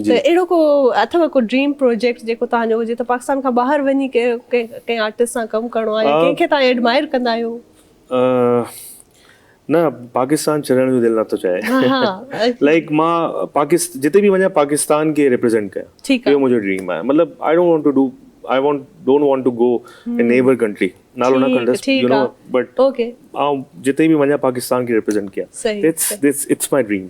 ته اهڙو ڪو اٿو ڪو ڊريم پروجيڪٽ جيڪو توهان جو هجي ته پاڪستان کان ٻاهر وڃي ڪنهن آرٽسٽ سان ڪم ڪرڻو آهي يا ڪنهن کي توهان ايڊمائر ڪندا آهيو؟ نه پاڪستان ڇڏڻ جو دل نٿو چاهي لائڪ مان پاڪستان جتي به وڃان پاڪستان کي ريپريزنٽ ڪيان اهو منهنجو ڊريم آهي مطلب I don't want to do I want don't want to go in neighbour country نالو نه کڻندس يو نو بٽ آئون جتي به وڃان پاڪستان کي ريپريزنٽ ڪيان اٽس مائي ڊريم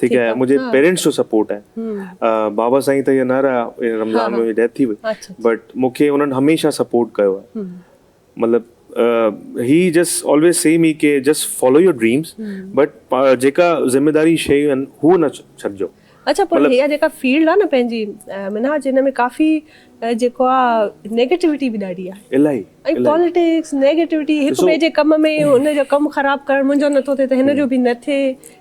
ٺيڪ آهي منهنجي پيرينٽس جو سپورٽ آهي بابا سائين ته هيئن نه رهيا هن رمضان ۾ ڊيٿ ٿي وئي بٽ مونکي انهن هميشه سپورٽ ڪيو آهي مطلب هي جسٽ آلويز سي مي ڪي just follow your dreams but جيڪا ذميداري شيون آهن هو نه ڇڏجو اچا پر هيا جيڪا فيلڊ آ نه پنهنجي منهاج هن ۾ ڪافي جيڪو آ نيگيٽيوٽي به ڏاڍي آ الائي ۽ پاليٽڪس نيگيٽيوٽي هڪ ٻئي جي ڪم ۾ هن جو ڪم خراب ڪرڻ منهنجو نٿو ٿئي ته هن جو به نه ٿئي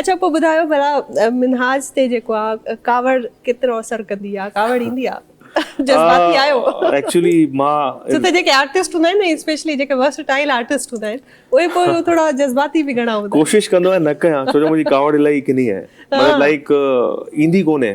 اڇا پوء ٻڌايو ڀلا منهاج تي جيڪو آ ڪاوڙ ڪيترو اثر ڪندي آ ڪاوڙ ايندي آ جذباتي آهيو ايڪچولي مان ڇو ته جيڪي آرٽسٽ هوندا آهن نه اسپيشلي جيڪي ورس ٽائل آرٽسٽ هوندا آهن اهي پوء ٿورا جذباتي به گهڻا هوندا آهن ڪوشش ڪندو آهيان نه ڪيان ڇو جو منهنجي ڪاوڙ الاهي ڪني آهي مطلب لائڪ ايندي ڪونهي